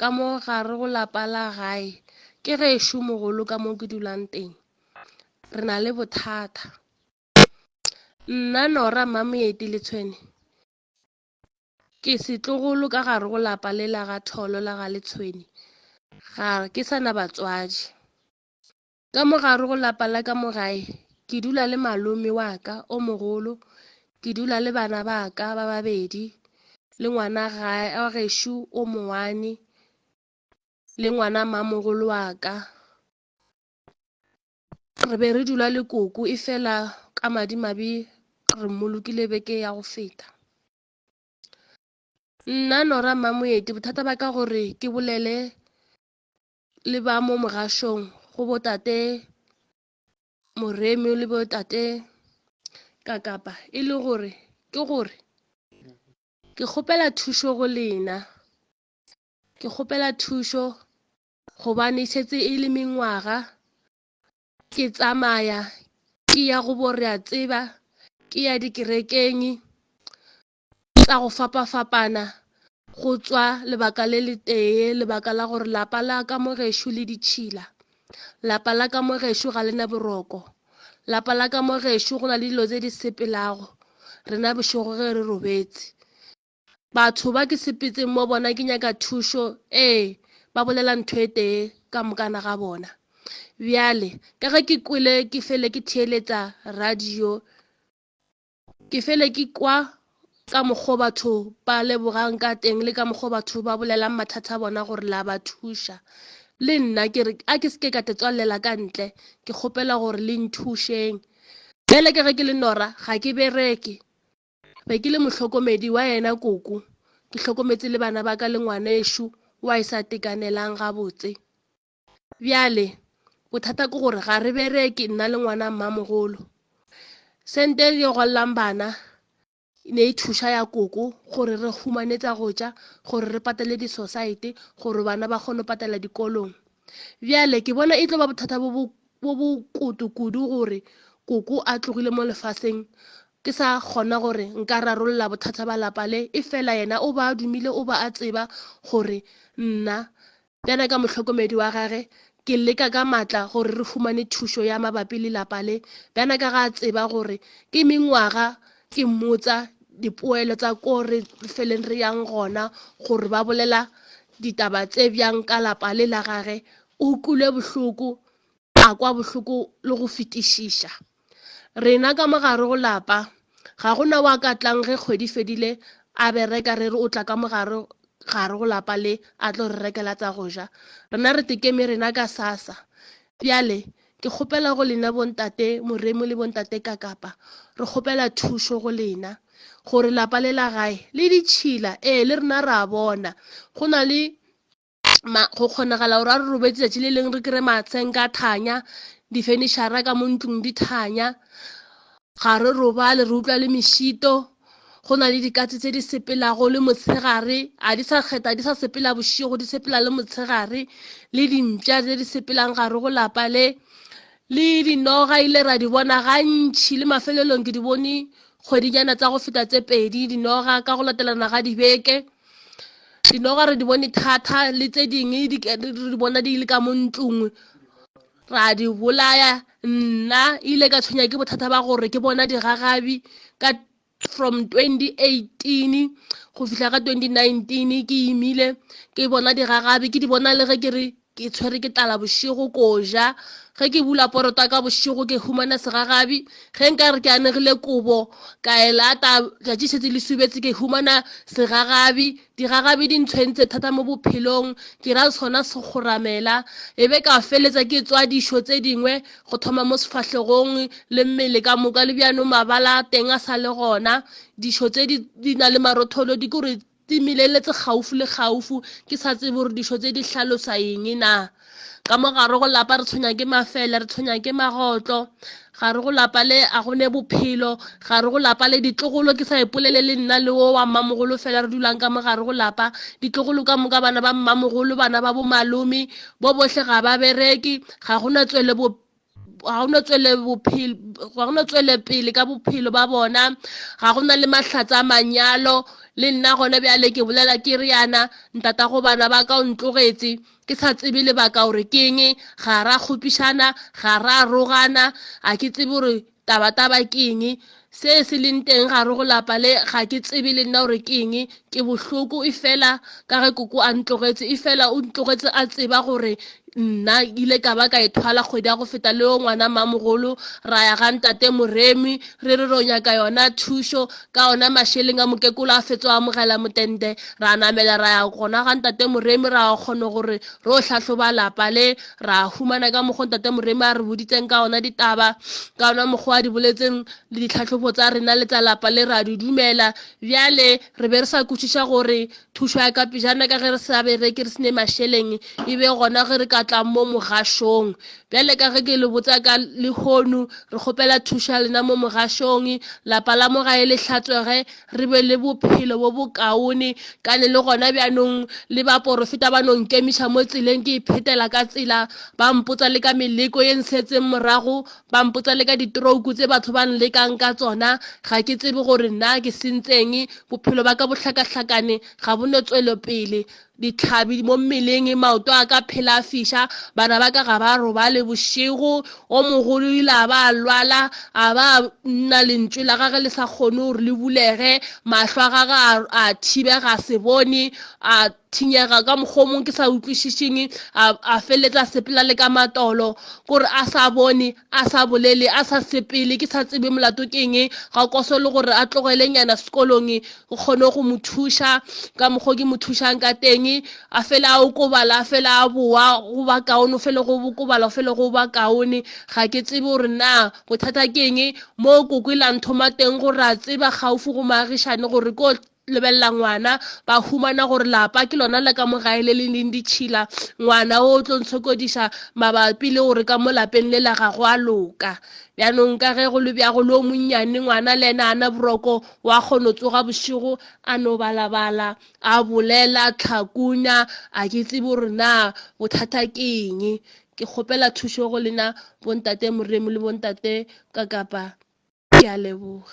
ka mo gare go lapa la gae ke gešo mogolo ka mo ke dulang teng re na le bothata nna nora mmamoeti le tshwene ke setlogolo ka gare go lapa le la ga tholo la ga letshwene ga ke sa na batswadi Ka mo gare go lapa la ka mo gae, ke dula le malome wa ka o mogolo, ke dula le bana ba ka ba babedi, le ngwana gae wa gešo o mongwane, le ngwana mmamogolo wa ka. Re be re dula le koko e fela ka madimabe re mmolokile beke ya go feta. Nna Nora Mmamoeti bothata ba ka gore ke bolele le ba mo mogašong go botate moremi le botate kakapa e le gore ke gore ke kgopela thušo go lena ke kgopela thušo gobane šetse e le mengwaga ke tsamaya ke ya go borea tseba ke ya dikerekeng tša go fapafapana go tšwa lebaka le le tee lebaka la gore lapa la ka mo gešo le ditšhila lapa la ka mo gešo ga le na boroko lapa la ka mo gešo go na le dilo tse di sepelago rena bošego ge re robetse batho ba ke sepetseng mo bona ke nyaka thušo ee ba bolela ntho e tee ka mokana ga bona bjale ka ge ke kwele ke fele ke theeletsa radio Ke fele ke kwa ka mokgo batho ba lebogang ka teng le ka mokgo batho ba bolelang mathata a bona gore la ba thuša le nna ke re a ke seke ka tetswalela ka ntle ke kgopela gore le nthušeng bjale ke ge ke le nora ga ke bereke be ke le mohlokomedi wa yena koko ke hlokometse le bana ba ka le ngwanešu wa e sa tekanelang gabotse Bjale, bothata ke gore ga re bereke nna le ngwana mmamogolo. Sente e yo gwalelang bana ne e thuša ya koko gore re humane tsa go tša gore re patele disosaete gore bana ba kgone go patela dikolong bjale ke bona e tlo ba bothata bo bo koto kudu gore koko a tlogile mo lefaseng ke sa kgona gore nka rarolola bothata ba lapa le e fela yena o ba a dumile o ba a tseba gore nna Bjale ka mohlokomedi wa gage, ke leka ka matla gore re humane thušo ya mabapi le lapa le. Bjale ka ga a tseba gore ke mengwaga ke mmotsa dipoelo tsa ko re feleng re yang gona gore ba bolela ditaba tse bjang ka lapa le la gage, o kwile bohloko, a kwa bohloko le go fetišiša. Rena ka mo gare go lapa. Ga go na wa ka tlang ge kgwedi fedile a bereka re re o tla ka mo gare gare go lapa le a tlo re rekela tsa go ja. Rena re tekeme rena ka sasa. Bjale, ke kgopela go lena bontate Moremu le bontate Kakapa, re kgopela thušo go lena, gore lapa le la gae le ditšhila, ee, le rena ra bona go na le ma go kgonagala gore a re robetse tsatsi le leng re kry matsheng ka thanya difenishara ka mo ntlong di thanya ga re robale re utlwa le mešito go na le dikatse tse di sepelago le motshegare a di sa kgetha di sa sepela bošego di sepela le motshegare le dimpša tse di sepelang gare go lapa le le dinoga ile ra di bona gantšhi le mafelelong ke di bone kgwedinyana tsa go feta tse pedi dinoga ka go latelana ga dibeke Dinoga re di bone thata le tse dingwe re bona di le ka mo ntlong ra di bolaya nna ile ka tshwenya ke bothata ba gore ke bona digagabi ka from 2018 go fihla ka 2019 ke imile ke bona digagabi ke di bona le ge ke re Ke tshwere ke tlala bošego ko ja. Ge ke bula porota ka bošego ke humana segagabi. Ge nka re ke anegile kobo ka e lata, tšatši šetse le subetse ke humana segagabi. Digagabi di ntshwentse thata mo bophelong, ke ra sona sekgoramela. E be ka feletsa ke tswa dišo tse dingwe go thoma mo sefahlegong le mmele ka moka, le bjano mabala a teng a sa le gona. Dišo tse di, di na le marotholo di ko re Di mileletse kgaufo le kgaufo. Ke sa tsebe gore dišo tse di hlalosa eng na. Ka mo gare go lapa re tshwenya ke mafele, re tshwenya ke magotlo. Gare go lapa le a go ne bophelo. Gare go lapa le ditlogolo, ke sa ipolele le nna le wo wa mmamogolo fela re dulang ka mo gare go lapa. Ditlogolo ka moka bana ba mmamogolo, bana ba bomalome, bo bohle ga ba bereke, ga go na tswelebo, ga go no tswele bophelo ga go no tswele pele ka bophelo ba bona ga go na le mahlatsa a manyalo le nna gone bjale ke bolela ke re yana ntata go bana ba ka o ntlogetse ke sa tsebe lebaka gore ke eng ga ra kgopišana ga ra rogana a ke tsebe gore Tabataba ke eng? Se se leng teng gare go lapa le, ga ke tsebe le nna gore ke eng. Ke bohloko efela ka ge koko a ntlogetše, efela o ntlogetše a tseba gore nna ke ile ka ba ka ethwala kgwedi ya go feta le yo ngwana mmamogolo, ra ya ga ntate Moremi re re ro nyaka yona thušo ka ona mašeleng a mokekolo a fetso a amogela motende. Ra namela ra ya gona ga ntate Moremi ra kgona gore ro hlahloba lapa le, ra humana ka mokgwa ntate moremi a re boditseng ka ona ditaba ka ona mokgwa a di boletseng le ditlhatlhobo tsa rena le tsa lapa le ra di dumela bjale re be re sa kwešiša gore thušo ya ka pejana ka ge re sa bereke re sene mašeleng e be gona ge re ka tlang mo mogašong bjale ka ge ke le botsa ka lehono re kgopela thušo ya lena mo mogašong lapa la mogae le hlatswege re be le bophelo bo bokaone kane le gona bjanong le baporofeta ba no nkemiša mo tseleng ke iphetela ka tsela ba mpotsa le ka meleko ye nsetseng morago ba mpotsa le ka ditrouku tse batho ba nlekang ka tsona ga ke tsebe gore na ke sentseng bophelo ba ka bohlakahlakane ga bo no tswelopele dihlabi mo mmeleng, maoto a ka phela a fiša, bana ba ka ga ba robale bošego, o mogolo ile a ba a lwala, a ba a nna lentšu la gage le sa kgone gore le bulege, mahlo a gage a, a thibega a se bone, a thinyega ka mokgwa o mongwe ke sa utlwišišeng, a, a feleletsa a sepela le ka matolo, kore a sa bone, a sa bolele, a sa sepele, ke sa tsebe molato ke eng, ga koso le gore a tlogele nyana sekolong, o kgone go mo thuša ka mokgwa ke mo thušang ka teng a fele a okobala a fele a boa go ba kaone o fele go bokobala go fele go ba kaone ga ke tsebe gore na bothata ke eng moo koko e lanthoma teng gore a tseba gaufi go maagišane gore ko lebelela ngwana ba humana gore lapa ke lona le ka mo gae le le leng ditšhila ngwana o tlo ntshokodiša mabapi le gore ka mo lapeng le la gago a loka bjanong ka ge go le bjago le o monnyane ngwana le ena ana boroko Wa kgono tsoga bošego a no balabala, a bolela, Tlhakunya, a ke tsebe gore na bothata ke eng. Ke kgopela thušo go lena Bontate Moremu le Bontate Kakapa. Ke a leboga.